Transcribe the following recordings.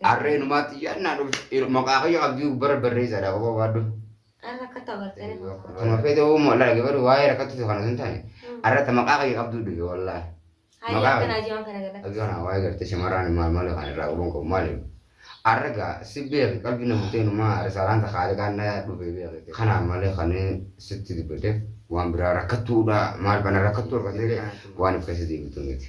Harree numaatti yannaa dhufu maqaa kiyya abdii gubbara barreessaadha qofa baadhu. Arra akka tabartee. Kana fedhe uumuu walaa gabaru waa'ee rakkattu kana sun taane. Arra ta maqaa kiyya qabduu dhufe wallaahi. Hayya Maqaa- akkanaa jimaa kana galatti. Abdii kana waa'ee gartee shamarraan maal maal kan irraa qabuun qabu maaliif? Arra gaa si beeki qalbii na bultee numaa risaalaan takaalee kaan na dhufe beekte. Kanaan malee kan sitti dubbate waan biraa rakkattuudha maal bana rakkattuu rakkatee waan of keessa deebitu miti.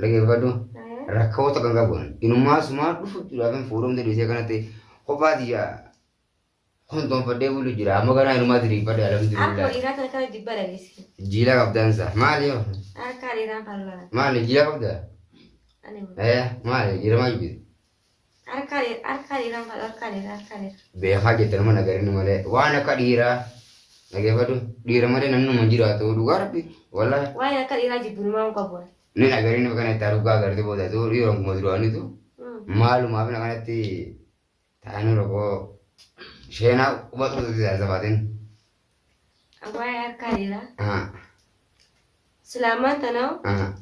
Dhageeffadhu. Rakkoo takka hin qabu. Inumaa sumaa dhufu jechuudhaaf hin fuudhamte dhiisee kanatti kophaa tiyya kontoonfadhee bulu jira. Amma ganaa inumaa diriirfadhe Akkuma alhamdulillah. dhiiraa kana kana jibba dhanis. Jiila qabdansa. Maali yoo? Harkaa dhiiraan fallaa. Maali jiila qabda? Ani Eh maali dhiiramaa jibbite? Harkaa dhiira harkaa dhiiraa hin fadhu harkaa dhiira harkaa dhiira. beekaa jette nama nagarinni malee waan akka dhiiraa dhageeffadhu dhiira malee namni nama hin jiraatu dhugaa rabbi walaa Waa'een akka dhiiraa jibbinumaa hin qabu. ni nagarinni bakka itti arguu gaagarti booda tu dhiira kuma duraanitu maalumaaf na kanatti taa'anii rogoo sheenaa quba tuututti taasisa baatin Abbaa harkaa dheeraa. Ah, Silaamaan tanaa ah,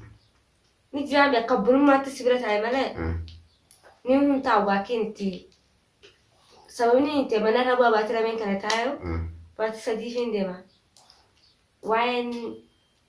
ni jiraame akka bulummaatti si bira taa'e malee ah. ni humtaa waakiin itti sababni itti mana irra bu'aa baatii lameen kana taa'u ah. baatii sadii fi hin deema. Waa'een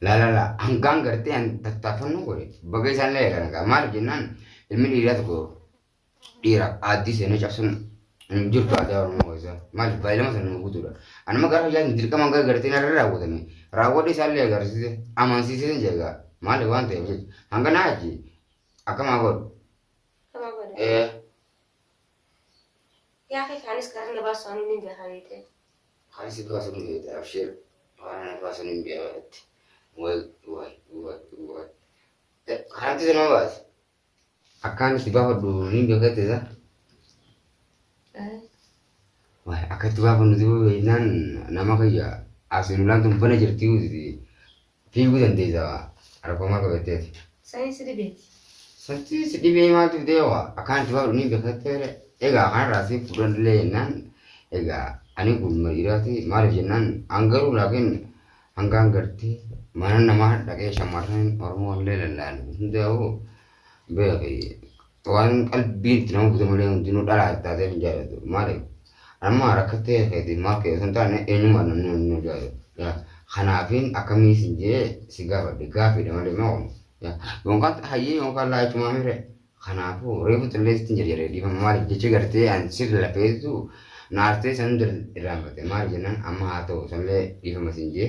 Laalala hangaan gartee an tattaaffannoon godhe baga isaan laala nagaa maaliif jennaan ilmi dhiiraa tokko dhiira aaddii seenee cabsuun hin jirtu aadaa oromoo keessaa maaliif baay'ilama sana nu guutuudha anuma gara fayyaatiin dirqama gara gartee narra raawwatame raawwadhe isaan lee agarsiise amansiisee hin jeega maaliif waan ta'eef jecha hanga naa achi akkamaa godhu Kama godha. ee Yaa kee kaanis karaa na baasu ani ni beekaa beekte. Kaan si baasu ni feeta abshir waan ana baasu ni biya walatti way way way way kanatti si nama baasa akkaan si baafadhu ni beekatti isa way akkatti baafannu si beeknaan nama kayya asinulaan tun bana jirti uusiti Fiiguu dandeessa waa. Argoomaa qabatteeti. Sani si dhibeeti. Satti si dhibee maaltu fidee waa. Akkaan itti baadhu ni beekatteere. Egaa kanarraa si fuudhan illee jennaan. Egaa ani gurbuma dhiiraati. Maaliif jennaan an garuu laakiin hangaan gartee mana namaa dhaqee shamarran Oromoo illee lallaalu hundaa'u beeki. Waan qalbiin itti nama bute malee hundinuu dhalaa itti taatee hin jaallatu. Maaliif? Amma rakkattee keetiin maal kee osoo hin taane eenyummaa namni hundinuu jaallatu. Kanaafiin akkamii isin jee si gaafadhe gaafiidha malee maa kun. Yookaan hayyee yookaan laachumaa mire. Kanaafuu reefu xillee sittin jedhe jedhe dhiifama maaliif jecha gartee an sif lafeessu na artee san hunda irraanfate maaliif jennaan amma haa ta'u sanillee dhiifama isin jee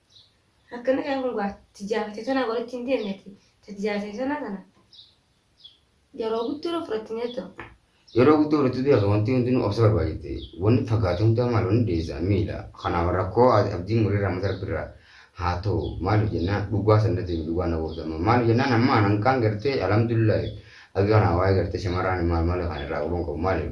Akkana jedha kun gaa tijaafate tana walitti hin deemneti. Tijaafate tana tana yeroo guddoo irra fudhatti jettu. Yeroo guddoo fudhattu beeka wanti hundinuu obsa barbaachifti. Wanni fagaate hundaa maal wanni deessa miila. Kanaaf rakkoo abdii murii raamata rabbirraa haa ta'u maaliif jennaan dhugaa sannatti himi dhugaa na goota amma maaliif jennaan amma anankaan gartee alhamdulillahi akka kanaa waa'ee gartee shamarraan maal maal kan irraa qaban qabu maaliif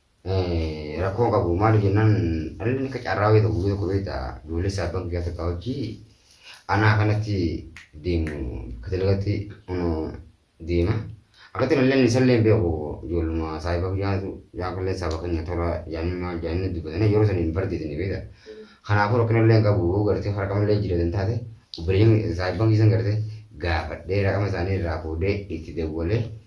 rakkoo hin qabu maaliif jennaan dhalli akka carraa wayii tokko guyyaa tokko beekta duulessa abbaan kiyyaa takka hojii anaa kanatti deemu bakka dalagatti deema akkatti dhalleen isallee hin beeku ijoolluma saahiba kiyyaatu jaakallee saaba keenya tola jaanii maal jaanii dubbatanii yeroo sana hin bardeetanii beekta kanaafuu rakkinallee hin qabu gartee harkamallee jireetan taate obboleeyyan saahiban keessan gartee gaafadhee raqama isaanii irraa fuudhee itti dawwalee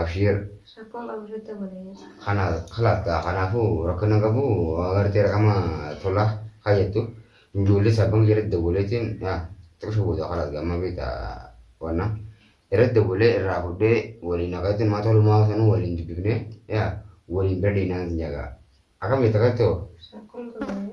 abshiir Rakkoon qabu sirriitti hubadha jechuudha. kana kalaas gaa kanaafuu rakkina hin qabu agartee raqama tolaa kayyattu ijoollee sabbanga irratti dawwaleetiin yaa xiqsha booda kalaas gaa amma beekta wanna irratti dawwalee irraa fudhee waliin akkatti maa tolumaa sanuu waliin dubbifnee yaa waliin bira deemnaan sin jagaa akkam jetta akkatti hoo Rakkoon qabu.